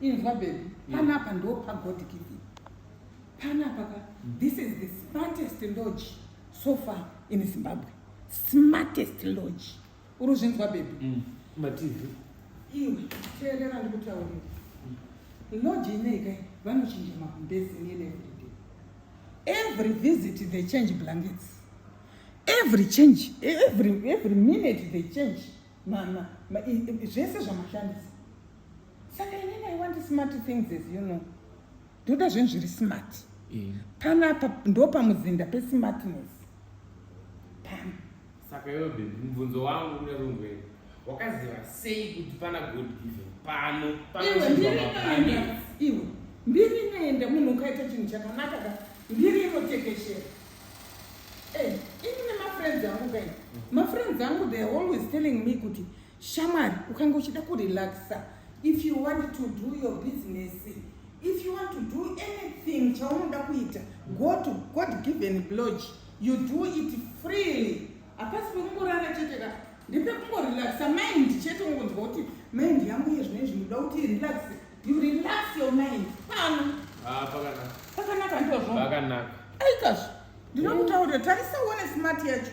inzwa bebi panapa ndo pagod giving panapa ka this is the smartest lodge so far in zimbabwe smartest lodge uri uzvinzwa bebi mm. matv iwe teerera ndikutaurira lodge inei kai vanochinja makumbezi nini everyday every visit they change blankets every change every, every minute they change mama zvese zvamashandisa saka inini i want smart things as you know ndoda zvinhu zviri smart eh. panapa ndo pamuzinda pesmartness pano saka iwe bebi mubvunzo wangu kuda kungwei wakaziva sei kuti pana god given pano iwe mbiri inoenda munhu ukaita chinhu chakanaka ka mbiri inotekeshera eh, ini nemafriends angu kai mafriends angu theyare always telling me kuti Shamwari, ukanga uchida kurelaxa if you want to do your business if you want to do anything chaunoda kuita go to god given lodge you do it freely hapasi pekungorara chete ka ndepekungorelaxa mind chete ungonzwa kuti mind yangu iye zvine zvinoda kuti relax you relax your mind pano ah, pakanaka ndozvo pakanaka aikazvo ndinokutaurira tarisa uone smart yacho